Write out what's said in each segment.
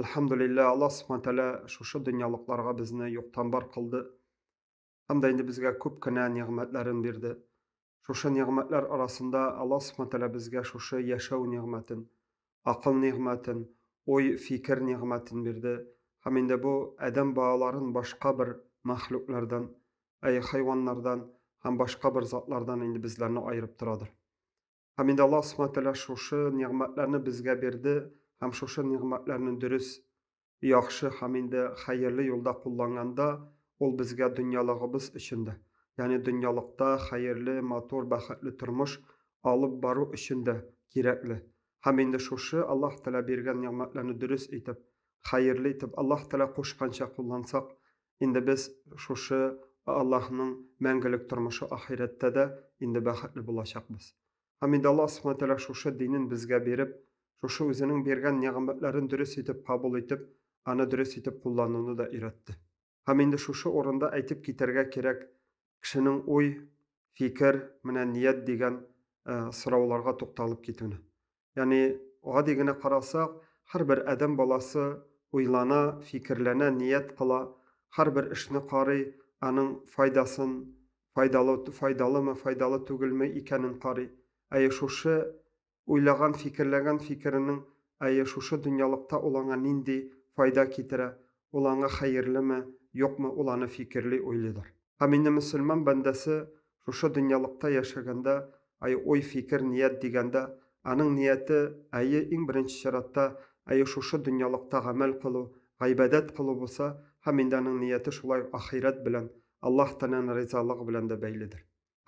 Әлхәмдулиллә, Аллаһ Субхану тәгалә шушы дөньялыкларга безне юктан бар кылды һәм дә инде безгә күп кенә нигъмәтләрен бирде. Шушы нигъмәтләр арасында Аллаһ Субхану тәгалә безгә шушы яшәү нигъмәтен, акыл нигъмәтен, уй, фикер нигъмәтен бирде һәм инде бу адәм балаларын башка бер мәхлуклардан, әй хайваннардан һәм башка бер затлардан инде безләрне аерып торадыр. Һәм инде Аллаһ Субхаһу Тәгалә шушы нигъмәтләрне безгә бирде һәм шушы нигъмәтләрне дөрес, яхшы һәм инде хәерле юлда кулланганда, ул безгә дөньялыгыбыз өчен дә, ягъни дөньялыкта хәерле, матур, бәхетле тормыш алып бару өчен дә кирәкле. Һәм инде шушы Аллаһ Тәгалә биргән нигъмәтләрне дөрес итеп, хәерле итеп, Аллаһ Тәгалә кушканча куллансак, Инде без шушы Аллаһның мәңгелек тормышы ахирәттә дә инде бәхетле булачакбыз. Һәм инде Аллаһ Субхаһу Тәгалә шушы динен безгә биреп, шушы үзенең биргән нигъмәтләрен дөрес итеп кабул итеп, аны дөрес итеп куллануны да өйрәтте. Һәм инде шушы урында әйтеп китәргә кирәк, кешенең уй, фикер, менә ният дигән сорауларга тукталып китүне. Ягъни, гади генә карасак, һәрбер адәм баласы уйлана, фикерләнә, ният кыла, һәрбер эшне карый, аның файдасын, файдалы, файдалымы, файдалы түгелме икәнен карый. Әйе, шушы уйлаган, фикерләгән фикеренең, әйе, шушы дөньялыкта ул аңа нинди файда китерә, ул аңа хәерлеме, юкмы, ул аны фикерли, уйлыйдыр. Һәм инде мөселман бәндәсе шушы дөньялыкта яшәгәндә, әй уй, фикер, ният дигәндә, аның нияте, әйе, иң беренче чиратта, әйе, шушы дөньялыкта гамәл кылу, гыйбадәт кылу булса, һәм инде аның нияте шулай ук ахирәт белән, Аллаһ Тәгаләнең ризалыгы белән дә бәйледер.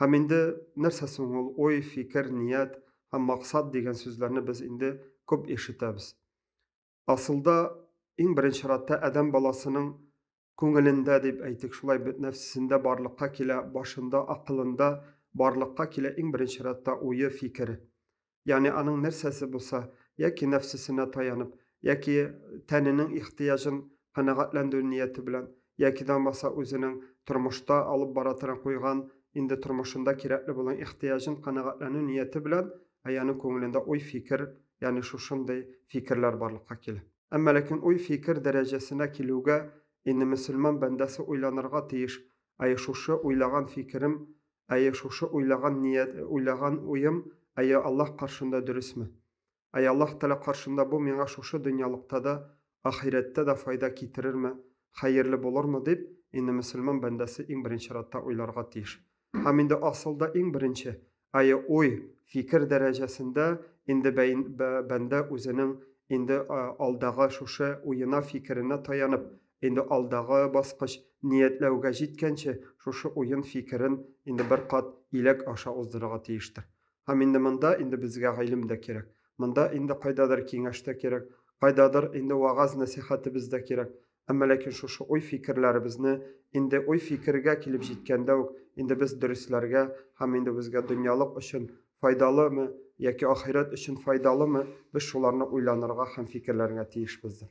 Һәм инде нәрсә соң ул уй, фикер, ният һәм максат дигән сүзләрне без инде күп ишетәбез. Асылда, иң беренче чиратта, адәм баласының күңелендә дип әйтик, шулай бит, нәфсесендә барлыкка килә, башында, акылында барлыкка килә иң беренче чиратта уе, фикере. Ягъни аның нәрсәсе булса, яки нәфсесенә таянып, яки тәненең ихтыяҗын канәгатьләндерү нияте белән, яки дә булмаса үзенең тормышта алып бара торган куйган инде тормышында кирәкле булган ихтыяҗын канәгатьләнү нияте белән, аянең күңелендә уй, фикер ягъни шушындый фикерләр барлыкка килә. Әмма ләкин уй-фикер дәрәҗәсенә килүгә, инде мөселман бәндәсе уйланырга тиеш, әйе, шушы уйлаган фикерем, әйе, шушы уйлаган ният, уйлаган уем, әйе, Аллаһ каршында дөресме? Әйе, Аллаһ Тәгалә каршында бу миңа шушы дөньялыкта да, ахирәттә дә файда китерерме, хәерле булырмы дип, инде мөселман бәндәсе иң беренче чиратта уйларга тиеш. Һәм инде асылда иң беренче, әйе, уй, фикер дәрәҗәсендә инде бәндә үзенең инде алдагы шушы уена, фикеренә таянып, инде алдагы баскыч, ниятләүгә җиткәнче, шушы уен, фикерен инде бер кат иләк аша уздырырга тиештер. Һәм инде монда инде безгә гыйлем дә кирәк. Монда инде кайдадыр киңәш тә кирәк, кайдадыр инде вәгазь-нәсыйхәтебез дә кирәк. Әмма ләкин шушы уй-фикерләребезне инде уй-фикергә килеп җиткәндә үк инде без дөресләргә һәм инде безгә дөньялык өчен файдалымы яки ахирәт өчен файдалымы, без шуларны уйланырга һәм фикерләргә тиешбездер.